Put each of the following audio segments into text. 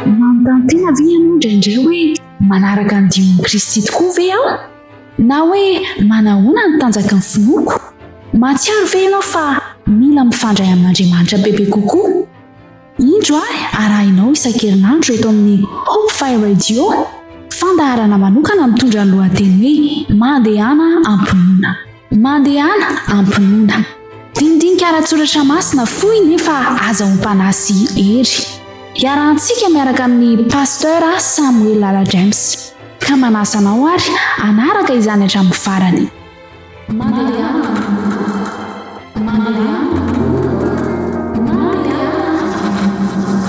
Manontaniana ve ianao indraindray hoe manaraka ny dion'i Kristy tokoa ve aho? Na hoe manahoana ny tanjaky ny finoako? Mahatsiaro ve ianao fa mila mifandray amin'Andriamanitra bebe kokoa? Indro ahy arahinao isan-kerinandro eto amin'ny Hope Fire Radio fandaharana manokana mitondra ny lohateny hoe Mandehana am-pinoana. Mandehana am-pinoana. Dinidinika ara-tsoratra masina fohy nefa aza ompana sy hery. Iarahantsika miaraka amin'ny Pasteur Samuel Lala James. Ka manasa anao ary hanaraka izany hatramin'ny farany. Mandehana am-pinoana. Mandehana am-pinoana. Mandehana am-pinoana.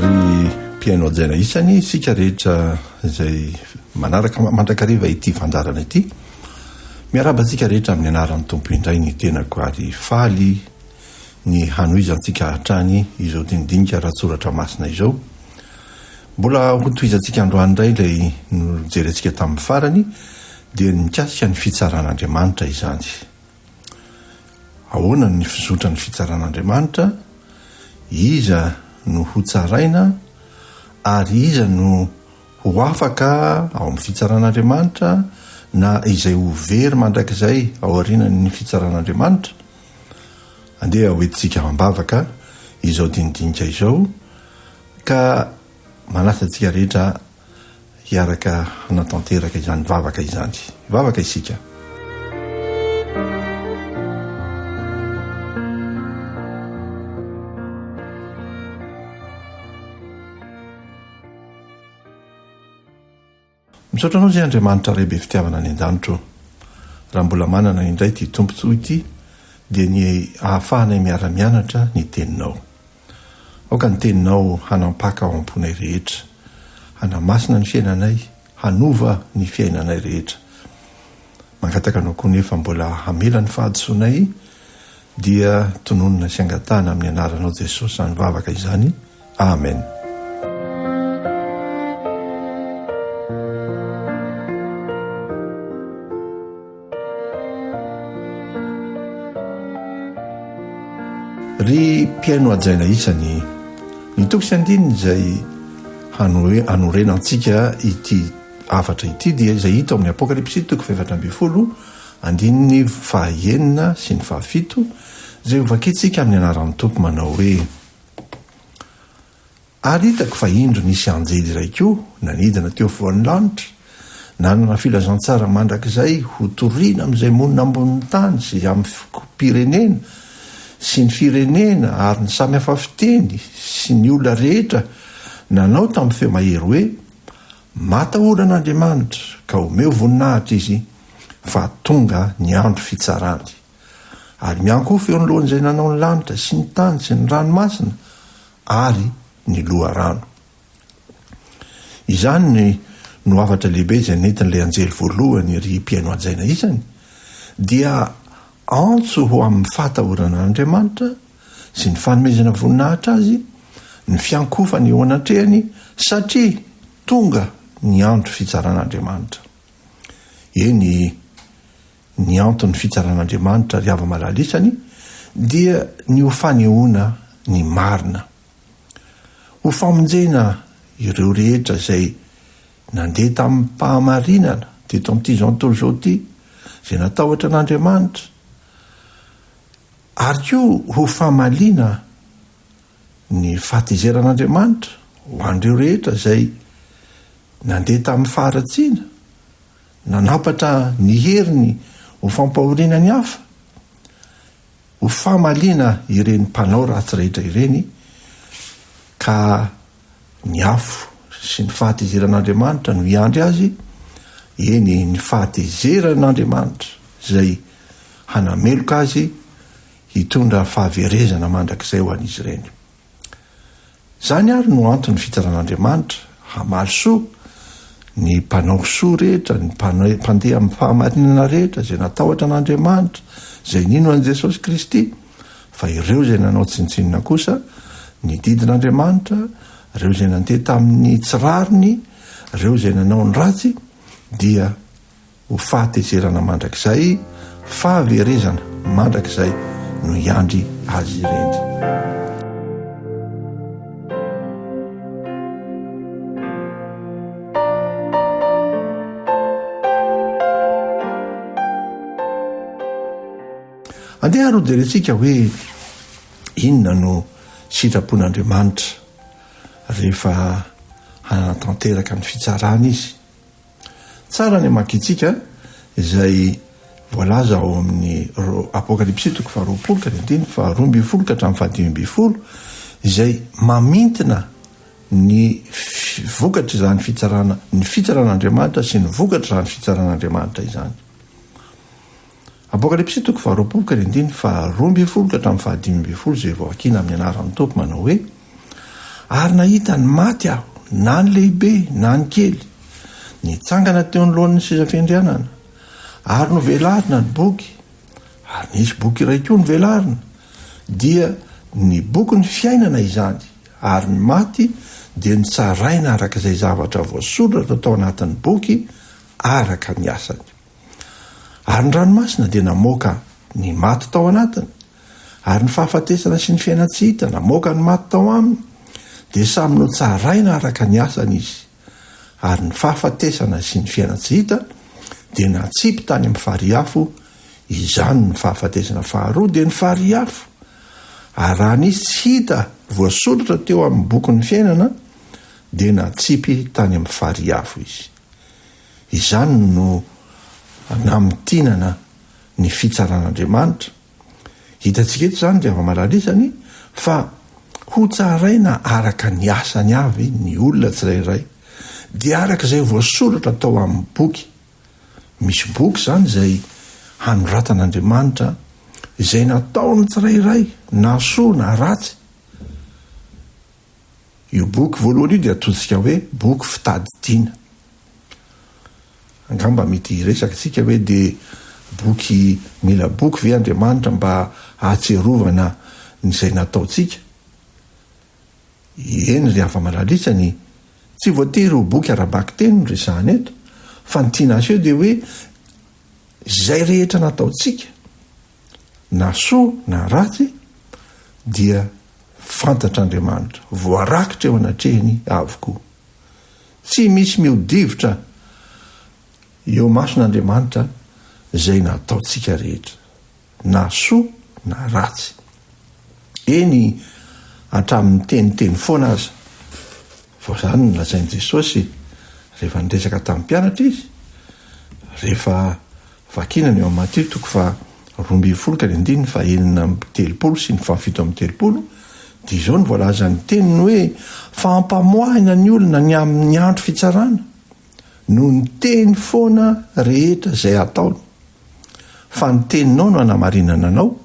Ry mpihaino hajaina isany isika rehetra. izay manaraka mandrakariva ity fandaharana ity. Miarahaba antsika rehetra amin'ny anaran'ny Tompo indray ny tenako ary faly ny hanohizantsika hatrany izao dinidinika ara-tsoratra masina izao. Mbola hotohizantsika androany indray ilay nojerentsika tamin'ny farany dia ny mikasika ny fitsaran'Andriamanitra izany. Ahoana ny fizotran'ny fitsaran'Andriamanitra, iza no hotsaraina, ary iza no ho afaka ao amin'ny fitsaran'Andriamanitra, na izay ho very mandrakizay aorianan'ny fitsaran'Andriamanitra? Andeha hoentintsika am-bavaka izao dinidinika izao, ka manasa antsika rehetra hiaraka hanatanteraka izany vavaka izany. Hivavaka isika. Misaotra anao izay Andriamanitra Ray be fitiavana any an-danitra ô. Raha mbola manana indray ity Tompontsy ity dia ny ahafahanay miara-mianatra ny teninao. Aoka ny Teninao hanampaka ao am-ponay rehetra, hanamasina ny fiainanay, hanova ny fiainanay rehetra. Mangataka Anao koa nefa mbola hamela ny fahadisoanay, dia tononina sy angatahana amin'ny Anaranao Jesosy izany vavaka izany. Amen. Ry mpihaino hajaina isany, ny toko sy andininy izay hanorenantsika ity hafatra ity dia izay hita ao amin'ny Apokalypsy toko fahefatra ambin'ny folo andininy fahaenina sy ny fahafito izay hovakintsika amin'ny anaran'ny Tompo manao hoe Ary hitako fa indro nisy anjely iray koa nanidina teo afovoan'ny lanitra, nanana filazantsara mandrakizay hotorina amin'izay monina ambonin'ny tany sy amin'ny fokom-pirenena sy ny firenena ary ny samy hafa fiteny sy ny olona rehetra, nanao tamin'ny feo mahery hoe, Matahora an'Andriamanitra, ka omeo voninahitra Izy, fa tonga ny andro fitsarany. Ary miankohofa eo anoloan'Izay nanao ny lanitra sy ny tany sy ny ranomasina ary ny loharano. Izany no hafatra lehibe izay nentin'ilay anjely voalohany ry mpihaino hajaina isany, dia antso ho amin'ny fahatahorana an'Andriamanitra sy ny fanomezana voninahitra Azy ny fiankohofana eo anatrehany satria tonga ny andro fitsaran'Andriamanitra. Eny, Ny anton'ny fitsaran'Andriamanitra ary hava-malalisany dia ny ho fanehoana ny marina. Ho famonjena ireo rehetra izay nandeha tamim-pahamarinana teto amin'ity izao tontolo izao ity, izay natahotra an'Andriamanitra, ary koa ho famaliana ny fahatezeran'Andriamanitra ho an'ireo rehetra izay nandeha tamin'ny faharatsiana, Nanampatra ny heriny ho fampahoriana ny hafa, ho famaliana ireny mpanao ratsy rehetra ireny, ka ny afo sy ny fahatezeran'Andriamanitra no hiandry azy, eny, ny fahatezeran'Andriamanitra izay hanameloka azy hitondra fahaverezana mandrakizay ho an'izy ireny. Izany ary no antony fitran'Andriamanitra hamaly soa ny mpanao soa rehetra, ny mpandeha amin'ny fahamarinana rehetra, izay natahotra an'Andriamanitra, izay nino an'i Jesosy Kristy, fa ireo izay nanao tsinontsinona kosa ny didin'Andriamanitra, ireo izay nandeha tamin'ny tsy rariny, ireo izay nanao ny ratsy, dia. Ho fahatezerana mandrakizay, fahaverezana mandrakizay no hiandry azy ireny. Andeha ary ho jerentsika hoe inona no sitrapon'Andriamanitra rehefa hanatanteraka ny fitsarana izy. Tsara ny hamakiantsika izay voalaza ao amin'ny Apokalypsy toko faharoapolo ka ny andininy faharoa ambin'ny folo ka hatramin'ny fahadimy ambin'ny folo, izay mamintina ny vokatr'izany fitsarana, ny fitsaran'Andriamanitra sy ny vokatr'izany fitsaran'Andriamanitra izany. Apokalypsy toko faharoapolo ka ny andininy faharoa ambin'ny folo ka hatramin'ny fahadimy ambin'ny folo izay vao vakina amin'ny anaran'ny Tompo manao hoe, Ary nahita ny maty aho, na ny lehibe na ny kely, nitsangana teo anoloan'ny seza fiandrianana, ary novelarina ny boky, ary nisy boky iray koa novelarina, dia ny bokin'ny fiainana izany, ary ny maty dia nitsaraina araka izay zavatra voasoratra tao anatin'ny boky araka ny asany. Ary ny ranomasina dia namoaka ny maty tao anatiny, ary ny fahafatesana sy ny fiainan-tsy hita namoaka ny maty tao aminy, dia samy notsaraina araka ny asany izy. Ary ny fahafatesana sy ny fiainan-tsy hita dia natsipy tany amin'ny farihy afo, izany ny fahafatesana faharoa dia ny farihy afo. Ary raha nisy tsy hita voasoratra teo amin'ny bokin'ny fiainana, dia natsipy tany amin'ny farihy afo izy. Izany no namintinana ny fitsaran'Andriamanitra. Hitantsika eto izany, ry hava-malaly isany, fa hotsaraina araka ny asany avy ny olona tsirairay, dia araka izay voasoratra tao amin'ny boky. Misy boky izany izay hanoratan'Andriamanitra izay nataon'ny tsirairay, na soa na ratsy. Io boky voalohany io dia atsointsika hoe boky fitadidiana. Angamba mety hiresaka isika hoe dia boky mila boky ve Andriamanitra mba hahatsiarovana ny izay nataontsika? Eny ry hava-malalitsany, tsy voatery ho boky ara-bakiteny no resahana eto, fa ny tiana aseho dia hoe izay rehetra nataontsika, na soa na ratsy, dia fantatr'Andriamanitra, voarakitra eo anatrehiny avokoa. Tsy misy mihodivitra eo amason'Andriamanitra izay nataontsika rehetra, na soa na ratsy. Eny, hatramin'ny teniteny foana aza. Vao izany no nolazain'i Jesosy rehefa niresaka tamin'ny mpianatra Izy, rehefa vakina ny eo amin'ny Matio toko faha roa ambin'ny folo ka ny andininy faha enina amby telopolo sy ny faha fito amby telopolo, dia izao no voalazan'ny teniny hoe, Fa ampamoahina ny olona ny amin'ny andro fitsarana, noho ny teny foana rehetra izay ataony. Fa ny teninao no hanamarinana anao,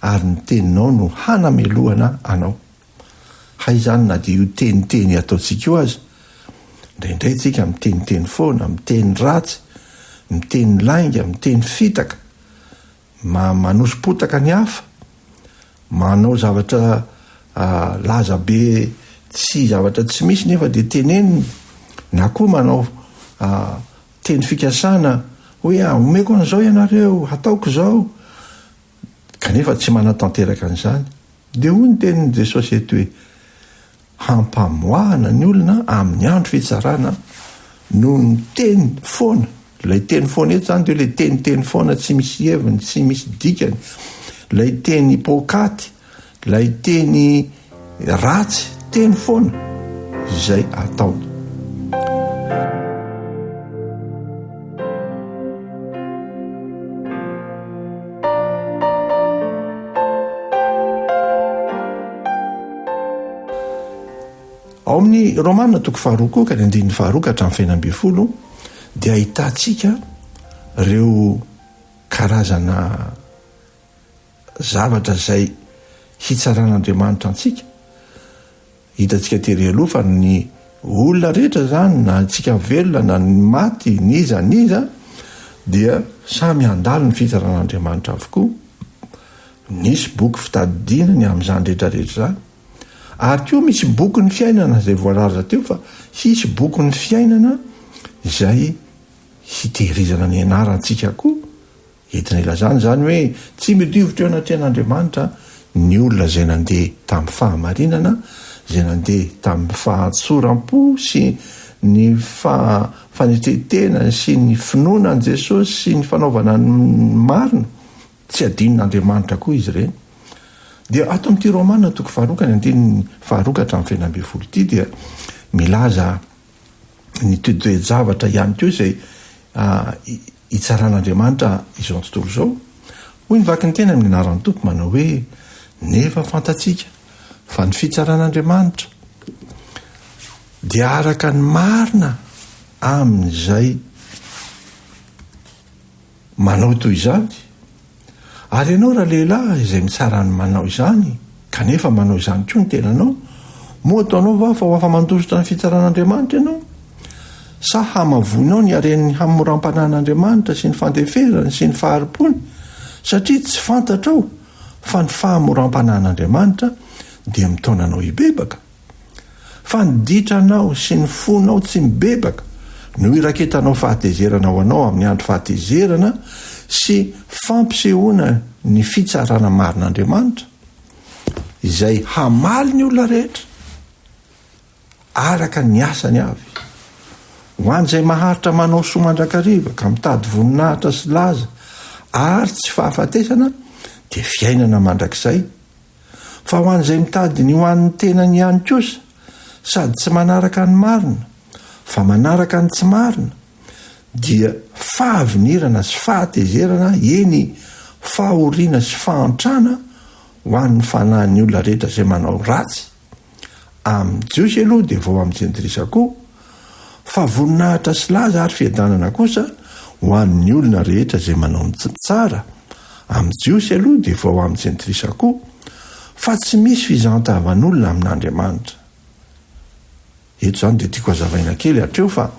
ary ny teninao no hanamelohana anao. Hay izany na dia io teniteny ataontsika io aza, indraindray tsika miteniteny foana, miteny ratsy, miteny lainga, miteny fitaka, ma, manoso-potaka ny hafa, manao zavatra laza be tsy zavatra tsy misy nefa dia tenenina, na koa manao teny fikasana hoe omeko an'izao ianareo, hataoko izao, kanefa tsy manatanteraka an'izany. Dia hoy ny tenin'i Jesosy eto hoe, Hampamoahana ny olona amin'ny andro fitsarana noho ny teny foana. Ilay teny foana eto izany dia hoe ilay teniteny foana tsy misy heviny, tsy misy dikany, ilay teny poakaty, ilay teny ratsy, teny foana izay ataony. ao amin'ny romana toko faharoa koa ka ny andininy faharoa ka hatramin'ny fahina ambin'ny folo dia ahitantsika reo karazana zavatra zay hitsaran'andriamanitra antsika Hitantsika tery aloha fa ny olona rehetra izany, na antsika velona na ny maty, n'iza n'iza, dia samy handalo ny fitsaran'Andriamanitra avokoa. Nisy boky fitadidiana ny amin'izany rehetrarehetra izany. Ary koa misy bokin'ny fiainana izay voalaza teo fa hisy bokin'ny fiainana izay hitehirizana ny anarantsika koa Entina ilazana izany hoe tsy midiovitra eo anatrehan'Andriamanitra ny olona izay nandeha tamin'ny fahamarinana, izay nandeha tamin'ny fahatsoram-po sy ny fanetrentena sy ny finoana an'i Jesosy sy ny fanaovana ny marina, tsy adinon'Andriamanitra koa izy ireny. Dia ato amin'ity Romana toko faharoa ny andininy faharoa ka hatramin'ny fahena ambin'ny folo ity dia milaza ny toe-javatra ihany koa izay hitsaran'Andriamanitra izao tontolo izao? Hoy ny vaky ny teny amin'ny anaran'ny Tompo manao hoe, Nefa fantatsika fa ny fitsaran'Andriamanitra dia araka ny marina amin'izay manao toy izany, Ary ianao ralehilahy izay mitsara ny manao izany, kanefa manao izany koa ny tenanao, moa ataonao va fa ho afa-mandositra ny fitsaran'Andriamanitra ianao? Sa hamavoinao ny haren'ny hamoram-panan'Andriamanitra sy ny fandeferany sy ny fahari-pony, satria tsy fantatrao fa ny fahamoram-panan'Andriamanitra dia mitaona anao hibebaka? Fa ny ditranao sy ny fonao tsy mibebaka no iraketanao fahatezerana ho anao amin'ny andro fahatezerana sy fampisehoana ny fitsarana marin'Andriamanitra, izay hamaly ny olona rehetra araka ny asany avy. Ho an'izay maharitra manao soa mandrakariva ka mitady voninahitra sy laza ary tsy fahafatesana dia fiainana mandrakizay, Fa ho an'izay mitady ny ho an'ny tenany ihany kosa, sady tsy manaraka ny marina, fa manaraka ny tsy marina, dia fahavinirana sy fahatezerana, eny, fahoriana sy fahantrana ho an'ny fanahin'ny olona rehetra izay manao ratsy. Amin'ny Jiosy aloha dia vao amin'ny Jentilisa koa, fa voninahitra sy laza ary fiadanana kosa ho an'ny olona rehetra izay manao ny tsara, amin'ny Jiosy aloha dia vao amin'ny Jentilisa koa, fa tsy misy fizahan-tavan'olona amin'Andriamanitra. Eto izany dia tiako hazavaina kely hatreo fa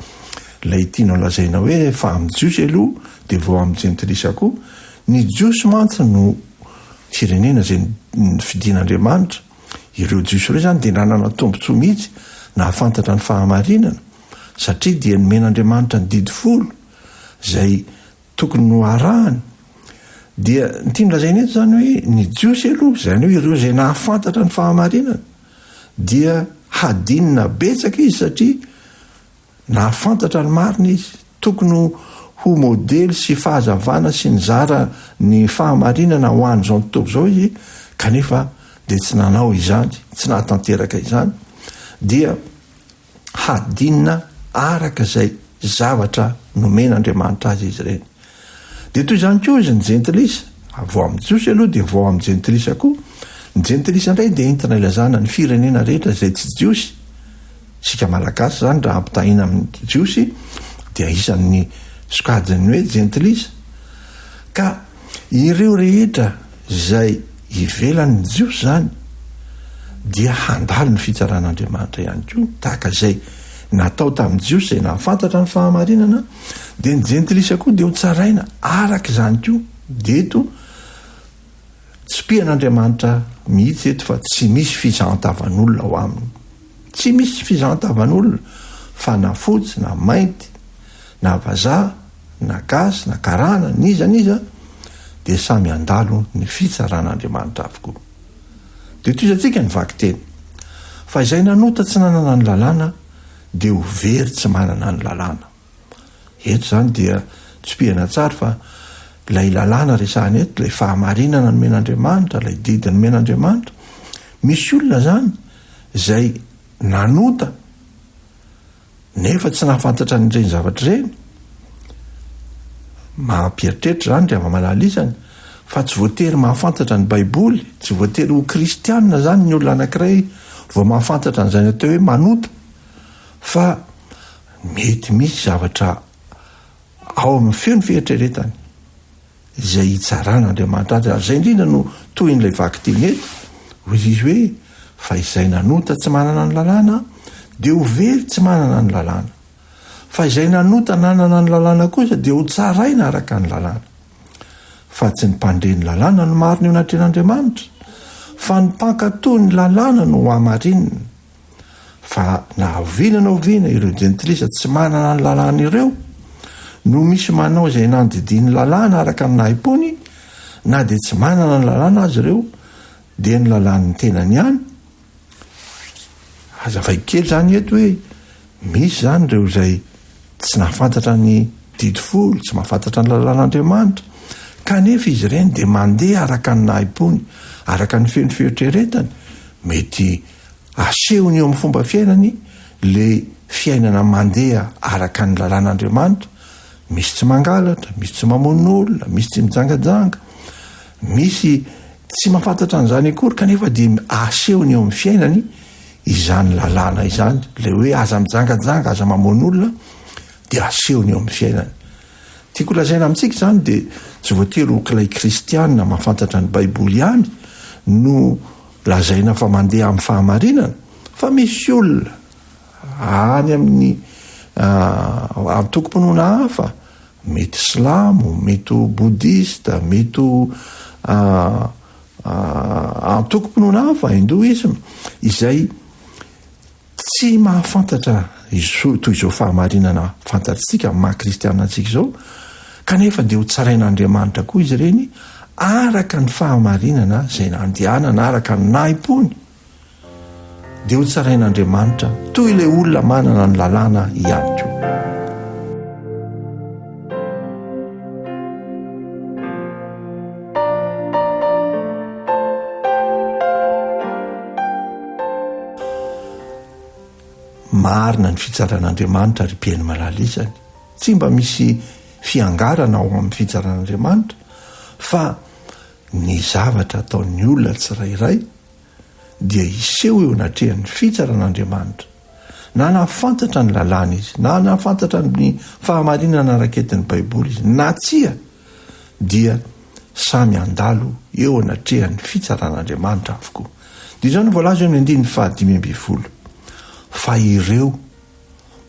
ilay tianao lazaina hoe fa amin'ny Jiosy aloha dia vao amin'ny Jentilisa koa, ny Jiosy mantsy no firenena izay nofidin'Andriamanitra, ireo Jiosy ireo izany dia nanana tombontsoa mihitsy nahafantatra ny fahamarinana satria dia nomen'Andriamanitra ny didy folo izay tokony ho arahany dia ny tiany lazaina eto izany hoe ny Jiosy aloha, izany hoe ireo izay nahafantatra ny fahamarinana dia hadinina betsaka izy satria nahafantatra ny marina izy, tokony ho modely sy fahazavana sy nizara ny fahamarinana ho an'izao tontolo izao izy kanefa dia tsy nanao izany, tsy nahatanteraka izany dia hadinina araka izay zavatra nomen'Andriamanitra azy izy ireny. Dia toy izany koa izy ny jentilisa, vao amin'ny Jiosy aloha dia vao amin'ny jentilisa koa. Ny jentilisa indray dia entina ilazana ny firenena rehetra izay tsy Jiosy. Isika Malagasy izany raha ampitahaina amin'ny Jiosy dia isan'ny sokajin'ny hoe jentilisa. Ka. Ireo rehetra izay ivelan'ny Jiosy izany dia handalo ny fitsaran'Andriamanitra ihany koa, tahaka izay natao tamin'ny Jiosy izay nahafantatra ny fahamarinana, dia ny jentilisa koa dia ho tsaraina araka izany koa, dia eto tsipihan'Andriamanitra mihitsy eto fa tsy misy fizahan-tavan'olona ao aminy. Tsy misy fizahan-tavan'olona fa na fotsy na mainty, na vazaha, na gasy, na karana, n'iza n'iza dia samy handalo ny fitsaran'Andriamanitra avokoa. Dia tohizantsika ny vakiteny, Fa izay nanota tsy nanana ny lalàna dia ho very tsy manana ny lalàna. Eto izany dia tsipihana tsara fa ilay lalàna resahana eto, ilay fahamarinana nomen'Andriamanitra, ilay didy nomen'Andriamanitra, misy olona izany izay nanota nefa tsy nahafantatra an'ireny zavatra ireny, mampieritreritra izany ry hava-malala izany, fa tsy voatery mahafantatra ny Baiboly, tsy voatery ho kristianina izany ny olona anankiray vao mahafantatra an'izay natao hoe manota, fa Mety misy zavatra ao amin'ny feon'ny fieritreretany izay hitsaran'Andriamanitra azy, ary izay indrindra no tohin'ilay vakiteny eto, hoy izy hoe, Fa izay nanota tsy manana ny lalàna, dia ho very tsy manana ny lalàna. Fa izay nanota nanana ny lalàna kosa dia hotsaraina araka ny lalàna. Fa tsy ny mpandre ny lalàna no marina eo anatrehan'Andriamanitra, fa ny mpankatò ny lalàna no hohamarinina. Fa na oviana na oviana ireo jentilisa tsy manana ny lalàna ireo no misy manao izay nandidian'ny lalàna araka ny nahim-pony na dia tsy manana ny lalàna azy ireo dia ny lalàn'ny tenany ihany. Hazavaiko kely izany eto hoe misy izany ireo izay tsy nahafantatra ny didy folo, tsy mahafantatra ny lalàn'Andriamanitra, kanefa izy ireny dia mandeha araka ny nahim-pony, araka ny feno fieritreretany, mety Asehony eo amin'ny fomba fiainany ilay fiainana mandeha araka ny lalàn'Andriamanitra, misy tsy mangalatra, misy tsy mamono olona, misy tsy mijangajanga, misy tsy mahafantatra an'izany akory kanefa dia asehony eo amin'ny fiainany izany lalàna izany, ilay hoe aza mijangajanga, aza mamono olona dia asehony eo amin'ny fiainany. Tiako lazaina amintsika izany dia tsy voatery ho kilay kristiana mahafantatra ny Baiboly ihany no Lazaina fa mandeha amin'ny fahamarinana fa misy olona any amin'ny antokom-pinoana hafa, mety silamo, mety ho bodista, mety ho antokom-pinoana hafa, hindoisme, izay Tsy mahafantatra izao toy izao fahamarinana fantatsika maha kristiana antsika izao, kanefa dia ho tsarain'Andriamanitra koa izy ireny araka ny fahamarinana izay nandehanana araka ny nahim-pony, dia ho tsarain'Andriamanitra toy ilay olona manana ny lalàna ihany koa. marina ny fitsaran'andriamanitra ry piaino malala izany tsy mba misy fiangarana ao amin'ny fitsaran'andriamanitra fa ny zavatra ataon'ny olona tsirairay dia hiseho eo anatrehan'ny fitsaran'Andriamanitra. Na nahafantatra ny lalàna izy, na nahafantatra ny fahamarinana naraketin'ny Baiboly izy na tsia, dia samy handalo eo anatrehan'ny fitsaran'Andriamanitra avokoa. Dia izao no voalaza eo amin'ny andininy fahadimy ambin'ny folo, Fa ireo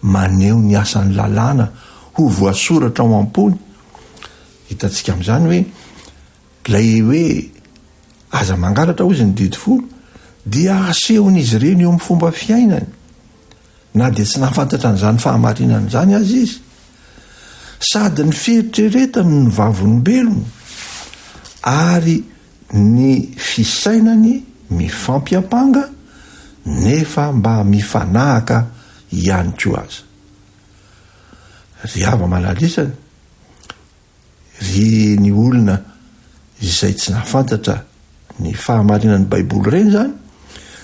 maneho ny asan'ny lalàna ho voasoratra ao am-pony, hitantsika amin'izany hoe, Ilay hoe aza mangalatra hozy ny didy folo dia asehon'izy ireny eo amin'ny fomba fiainany na dia tsy nahafantatra an'izany fahamarinana izany aza izy. Sady ny fieritreretany no vavolombelony ary ny fisainany mifampiampanga nefa mba mifanahaka ihany koa aza. Ry hava-malalisany, Ry ny olona izay tsy nahafantatra ny fahamarinan'ny Baiboly ireny izany,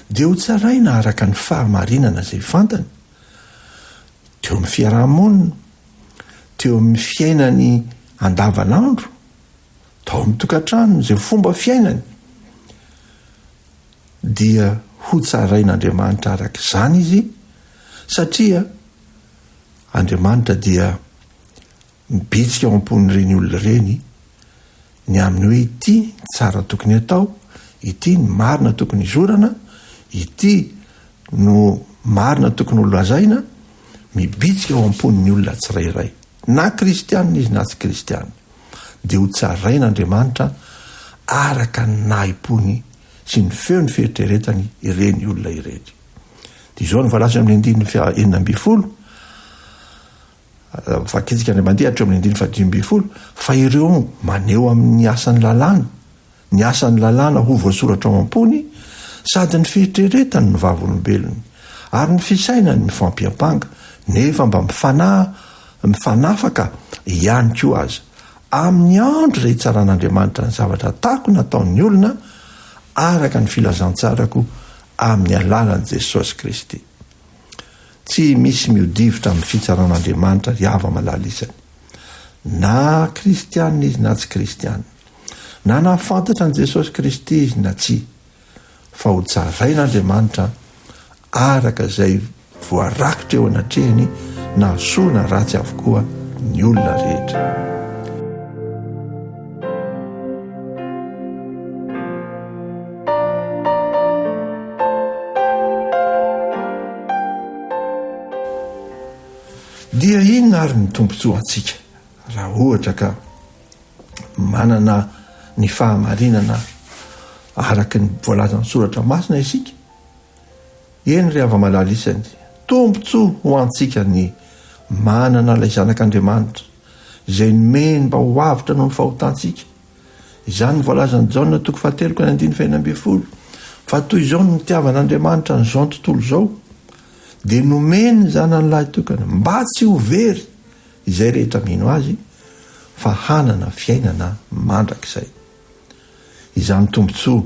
dia hotsaraina araka ny fahamarinana izay fantany, teo amin'ny fiaraha-monina, teo amin'ny fiainany andavanandro, tao amin'ny tokantranony, izay fomba fiainany, dia hotsarain'Andriamanitra araka izany izy, satria Andriamanitra dia Mibitsika ao am-pon'ireny olona ireny ny amin'ny hoe ity ny tsara tokony hatao, ity ny marina tokony hizorana, ity no marina tokony ho lazaina, mibitsika ao am-pon'ny olona tsirairay, na kristianina izy na tsy kristianina, dia ho tsarain'Andriamanitra araka ny nahim-pony sy ny feon'ny fieritreretany ireny olona ireny. Dia izao no voalaza eo amin'ny andininy faha enina ambin'ny folo, Voakendrika indray mandeha hatreo amin'ny andininy fahadimy ambin'ny folo fa ireo maneho amin'ny asan'ny lalàna ny asan'ny lalàna ho voasoratra ao am-pony sady ny fieritreretany ny vavolombelony ary ny fisainany mifampiampanga nefa mba mifanaha mifanafaka ihany koa aza amin'ny andro izay hitsaran'Andriamanitra ny zavatra atako nataon'ny olona araka ny filazantsarako amin'ny alalan'i Jesosy Kristy. Tsy misy miodivitra amin'ny fitsaran'Andriamanitra ry hava-malala isany. Na kristiana izy na tsy kristiana. Na nahafantatra an'i Jesosy Kristy izy na tsia. Fa ho tsarain'Andriamanitra araka izay voarakitra eo anatrehany na soa na ratsy avokoa ny olona rehetra. Dia inona ary ny tombontsoa ho antsika raha ohatra ka manana ny fahamarinana araka ny voalazan'ny soratra masina isika? Eny ry hava-malala isany, tombontsoa ho antsika ny manana ilay Zanak'Andriamanitra izay nomeny mba ho avotra noho ny fahotantsika. Izany no voalazan'i Jaona toko fahatelo ka ny andininy fahena ambin'ny folo, fa toy izao no nitiavan'Andriamanitra an'izao tontolo izao, dia nomeny ny Zanany Lahitokana, mba tsy ho very izay rehetra mino Azy, fa hanana fiainana mandrakizay. Izany tombontsoa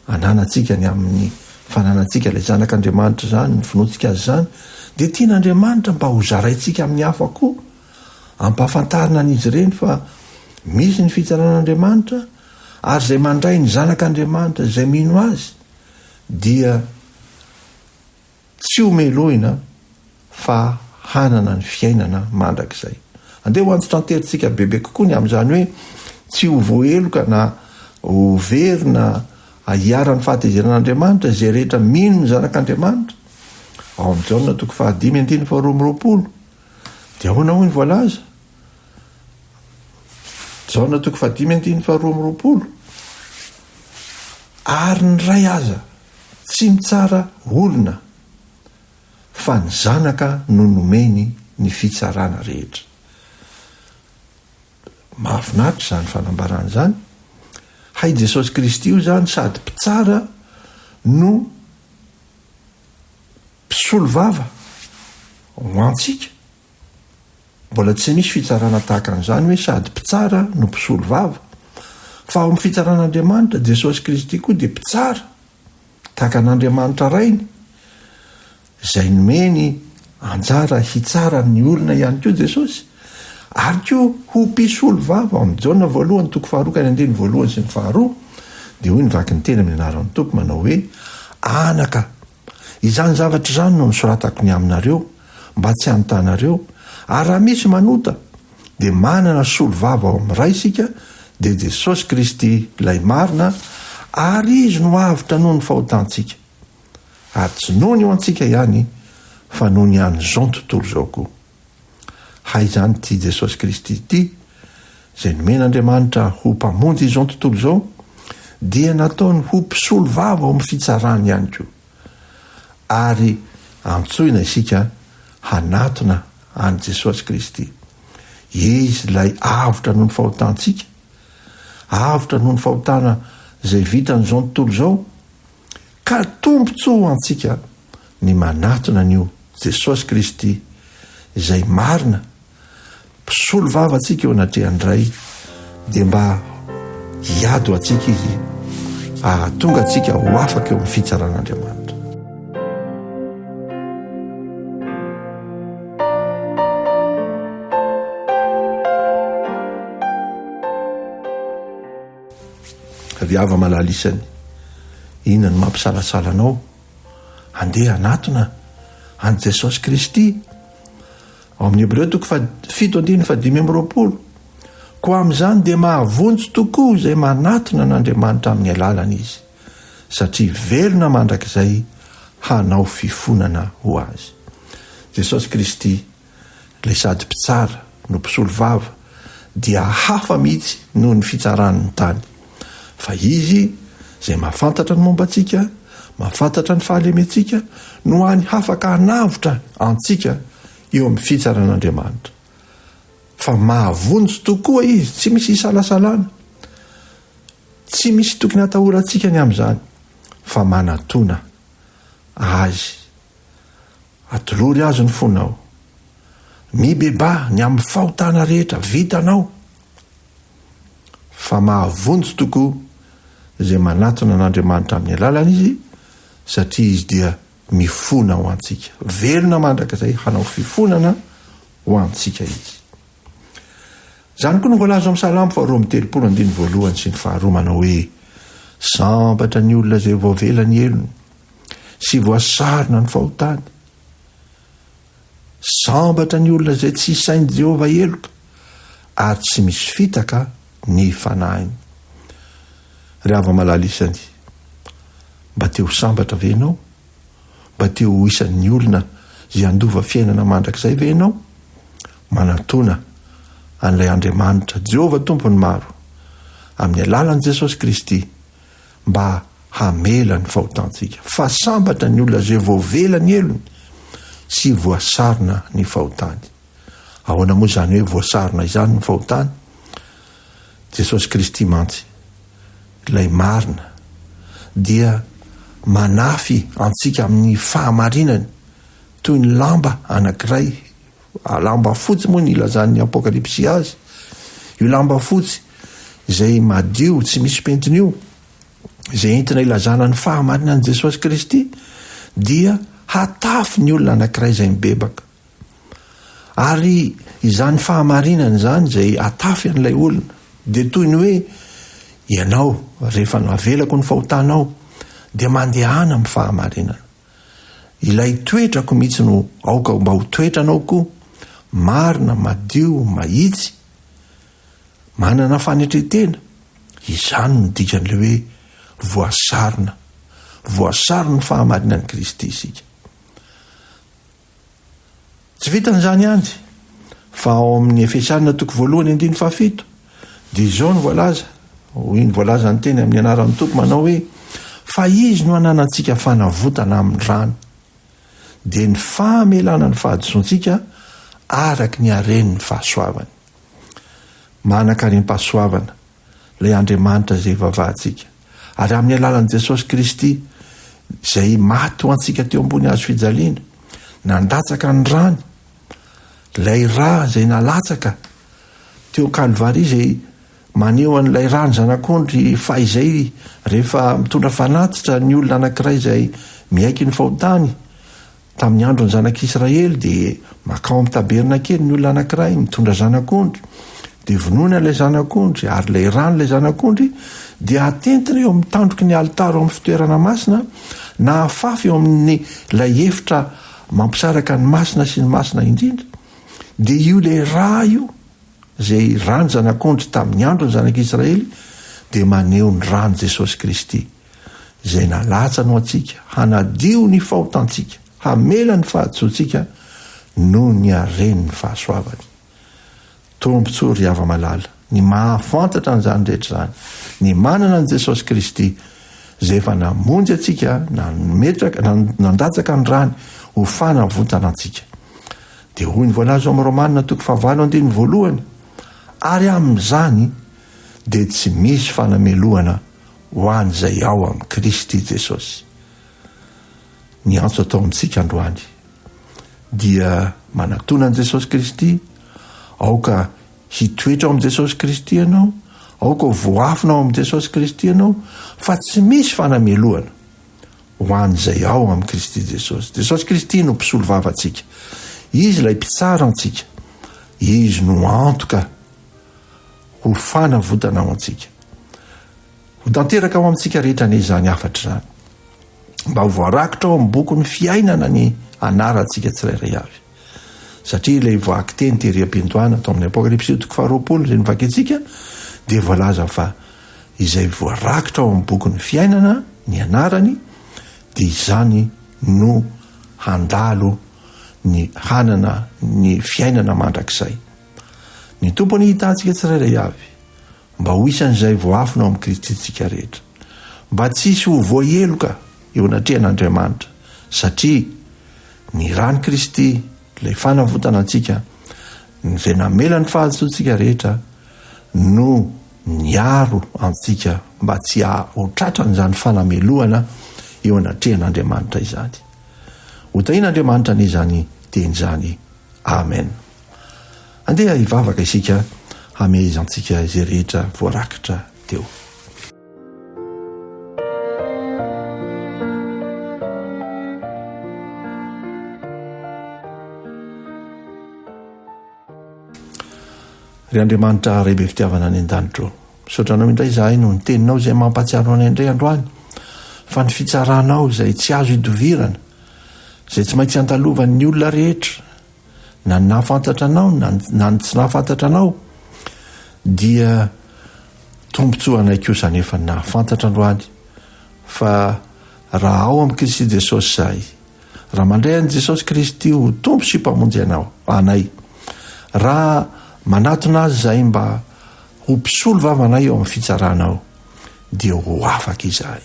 ananantsika ny amin'ny fananantsika ilay Zanak'Andriamanitra izany, ny finoantsika Azy izany, dia tian'Andriamanitra mba hozaraintsika amin'ny hafa koa, Ampahafantarina an'izy ireny fa misy ny fitsaran'Andriamanitra ary izay mandray ny Zanak'Andriamanitra izay mino Azy dia tsy ho melohina fa hanana ny fiainana mandrakizay. Andeha ho antsotra an-terintsika bebe kokoa ny amin'izany hoe tsy ho voaheloka na ho very na hiharan'ny fahatezeran'Andriamanitra izay rehetra mino ny Zanak'Andriamanitra, ao amin'ny Jaona toko fahadimy andininy faharoa amby roapolo. Dia ahoana hoy ny voalaza? Jaona toko fahadimy andininy faharoa amby roapolo. Ary ny ray aza tsy mitsara olona, fa ny zanaka no nomeny ny fitsarana rehetra. Mahafinaritra izany fanambarana izany. Hay Jesosy Kristy io izany sady mpitsara no Mpisolovava ho antsika. Mbola tsy misy fitsarana tahaka an'izany hoe sady mpitsara no mpisolovava. Fa ao amin'ny fitsaran'Andriamanitra, Jesosy Kristy koa dia mpitsara tahaka an'Andriamanitra Rainy, izay nomeny anjara hitsara ny olona ihany koa Jesosy. Ary koa ho mpisolovava ao amin'ny Jaona voalohany toko faharoa ka ny andininy voalohany sy ny faharoa dia hoy ny vaky ny teny amin'ny anaran'ny Tompo manao hoe, Anaka Izany zavatra izany no nosoratako ny aminareo, mba tsy hanotanareo, ary raha misy manota, dia manana solovava ao amin'ny Ray isika, dia Jesosy Kristy Ilay marina, ary Izy no avotra noho ny fahotantsika. Ary tsy noho ny ho antsika ihany, fa noho ny an'izao tontolo izao koa. Hay izany ity Jesosy Kristy ity, izay nomen'Andriamanitra ho Mpamonjy izao tontolo izao, dia nataony ho mpisolo vava ao amin'ny fitsarany ihany koa. Ary antsoina isika hanatona an'i Jesosy Kristy. Izy ilay avotra noho ny fahotantsika, avotra noho ny fahotana izay vitan'izao tontolo izao, Ka tombotsoa ho antsika ny manatona an'io Jesosy Kristy izay marina mpisolo vava antsika eo anatrehan'ny Ray dia mba hiady ho antsika Izy ahatonga antsika ho afaka eo amin'ny fitsaran'Andriamanitra. Avy ava malala isany, inona no mampisalasala anao handeha hanatona an'i Jesosy Kristy? Ao amin'ny Hebreo toko faha fito andininy faha dimy amby roapolo, koa amin'izany dia mahavonjy tokoa izay manatona an'Andriamanitra amin'ny alalany izy, satria velona mandrakizay hanao fifonana ho Azy. Jesosy Kristy Ilay sady mpitsara no mpisolovava dia hafa mihitsy noho ny fitsarany ny tany. Fa Izy izay mahafantatra ny momba antsika, mahafantatra ny fahalementsika no hany hafaka hanavotra antsika eo amin'ny fitsaran'Andriamanitra. Fa mahavonjy tokoa Izy, tsy misy isalasalana. Tsy misy tokony hatahorantsika ny amin'izany fa manatona Azy. Atolory Azy ny fonao. Mibebaha ny amin'ny fahotana rehetra vitanao, fa mahavonjy tokoa izay manatona an'Andriamanitra amin'ny alalany Izy, satria Izy dia mifona ho antsika. Velona mandrakizay hanao fifonana ho antsika Izy. Izany koa no voalaza ao amin'ny Salamo faharoa amby telopolo andininy voalohany sy ny faharoa manao hoe Sambatra ny olona izay voavela ny helony sy voasarona ny fahotany. Sambatra ny olona izay tsy isain'i Jehovah heloka ary tsy misy fitaka ny fanahiny. Ry hava malala isany, mba te ho sambatra ve ianao? Mba te ho isan'ny olona izay handova fiainana mandrakizay ve ianao? Manatòna an'ilay Andriamanitra, Jehovah Tompon'ny maro, amin'ny alalan'i Jesosy Kristy, mba hamela ny fahotantsika. Fa sambatra ny olona izay voavela ny helony sy voasarona ny fahotany. Ahoana moa izany hoe voasarona izany ny fahotany? Jesosy Kristy mantsy Ilay marina dia manafy antsika amin'ny fahamarinany toy ny lamba anankiray, lamba fotsy moa ny ilazan'ny Apokalypsy azy, io lamba fotsy izay madio tsy misy pentina io, izay entina ilazana ny fahamarinan'i Jesosy Kristy, dia hatafy ny olona anankiray izay mibebaka. Ary izany fahamarinana izany izay atafy an'ilay olona dia toy ny hoe ianao rehefa navelako ny fahotanao dia mandehana amin'ny fahamarinana. Ilay toetrako mihitsy no aoka mba ho toetranao koa, marina, madio, mahitsy, manana fanetren-tena, izany no dikan'ilay hoe voasarona, voasaron'ny fahamarinan'i Kristy isika. Tsy vitan'izany ihany, fa ao amin'ny Efesiana toko voalohany andininy fahafito, dia izao no voalaza, hoy ny voalazan'ny teny amin'ny anaran'ny Tompo manao hoe, Fa Izy no ananantsika fanavotana amin'ny rany, dia ny famelana ny fahadisoantsika araka ny haren'ny fahasoavany. Manankarem-pahasoavana ilay Andriamanitra izay ivavahantsika. Ary amin'ny alalan'i Jesosy Kristy, Izay maty ho antsika teo ambony hazo fijaliana, nandatsaka ny rany, ilay ra izay nalatsaka teo Kalvary izay maneho an'ilay rany zanak'ondry fahizay rehefa mitondra fanatitra ny olona anankiray izay miaiky ny fahotany, Tamin'ny andron'ny zanak'i Israely dia makao amin'ny tabernakely ny olona anankiray mitondra zanak'ondry, dia vonoina ilay zanak'ondry ary ilay ran'ilay zanak'ondry dia atentina eo amin'ny tandroky ny alitara eo amin'ny fitoerana masina na afafy eo amin'ny ilay efitra mampisaraka ny masina sy ny masina indrindra, dia io ilay ra io izay ran'ny zanak'ondry tamin'ny andron'ny zanak'i Israely dia maneho ny ran'i Jesosy Kristy. izay nalatsany ho antsika, hanadio ny fahotantsika, hamela ny fahadisoantsika noho ny haren'ny fahasoavany. Tombontsoa ry hava-malala ny mahafantatra an'izany rehetra izany, ny manana an'i Jesosy Kristy izay efa namonjy antsika, nametraka, nandatsaka ny rany ho fanavotana antsika. Dia hoy ny voalaza ao amin'ny Romana toko fahavalo andininy voalohany, ary amin'izany dia tsy misy fanamelohana Ho an'izay ao amin'i Kristy Jesosy. Ny antso atao amintsika androany dia manatona an'i Jesosy Kristy, aoka hitoetra ao amin'i Jesosy Kristy ianao, aoka ho voafina ao amin'i Jesosy Kristy ianao, fa tsy misy fanamelohana ho an'izay ao amin'i Kristy Jesosy. Jesosy Kristy no mpisolo vavantsika, Izy ilay mpitsara antsika, Izy no antoka. Ho fanavotana ho antsika. Ho tanteraka ao amintsika rehetra anie izany hafatra izany. Mba ho voarakitra ao amin'ny bokin'ny fiainana ny anarantsika tsirairay avy. Satria ilay vakiteny tery am-piandohana tao amin'ny Apokalypsy toko faharoapolo izay novakintsika dia voalaza fa izay voarakitra ao amin'ny bokin'ny fiainana ny anarany dia izany no handalo ny hanana ny fiainana mandrakizay. Ny Tompo anie hitaha antsika tsirairay avy mba ho isan'izay voafina ao amin'i Kristy isika rehetra, mba tsy hisy ho voaheloka eo anatrehan'Andriamanitra, satria ny ran'i Kristy, ilay fanavotana antsika, izay namela ny fahadisoantsika rehetra, no niaro antsika mba tsy ho tratran'izany fanamelohana eo anatrehan'Andriamanitra izany. Hotahian'Andriamanitra anie izany teny izany. Amen. Andeha hivavaka isika hamehezantsika izay rehetra voarakitra teo. Ry Andriamanitra Ray be fitiavana any an-danitro, misaotra Anao indray izahay noho ny Teninao izay mampahatsiaro anay indray androany fa ny fitsaranao izay tsy azo idovirana, izay tsy maintsy andalovan'ny olona rehetra, na ny nahafantatra anao na na ny tsy nahafantatra anao dia tombontsoa anay koa izany efa nahafantatra androany fa raha ao amin'i Kristy Jesosy izahay raha mandray an'i Jesosy Kristy ho tompo sy mpamonjy anao anay raha manatona azy izahay mba ho mpisolo vavanay eo amin'ny fitsaranao dia ho afaka izahay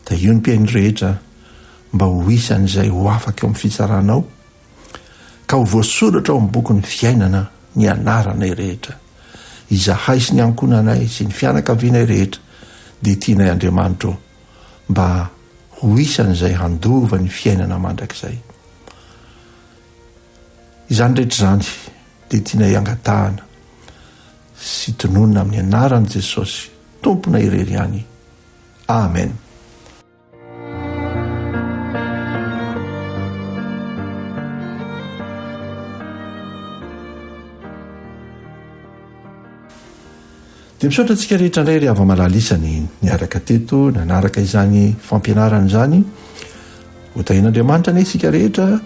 dia io ny mpihaino rehetra mba ho isan'izay ho afaka eo amin'ny fitsaranao Ka ho voasoratra ao amin'ny bokin'ny fiainana ny anaranay rehetra. Izahay sy ny ankohonanay sy ny fianakavianay rehetra dia tianay Andriamanitro mba ho isan'izay handova ny fiainana mandrakizay. Izany rehetra izany dia tianay angatahana sy tononina amin'ny anaran'i Jesosy Tompona irery ihany. Amen. Dia misaotra antsika rehetra indray ry hava-malala isany niaraka teto nanaraka izany fampianarana izany. Hotahian'Andriamanitra anie isika rehetra.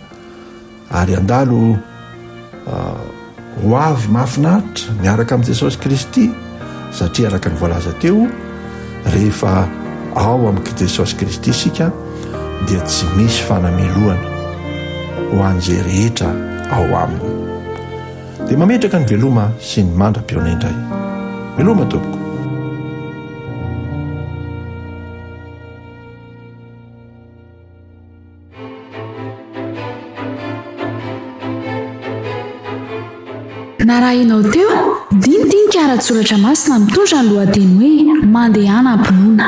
Ary handalo ho avy mahafinaritra miaraka amin'i Jesosy Kristy, satria araka ny voalaza teo, rehefa ao amin'i Jesosy Kristy isika dia tsy misy fanamelohana ho an'izay rehetra ao aminy. Dia mametraka ny veloma sy ny mandra-pihaona indray. Veloma tompoko. Narahinao teo, dinidinika ara-tsoratra masina mitondra ny lohateny hoe Mandehana am-pinoana.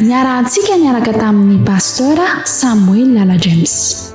Niarahantsika niaraka tamin'ny Pasteur Samuel Lala James.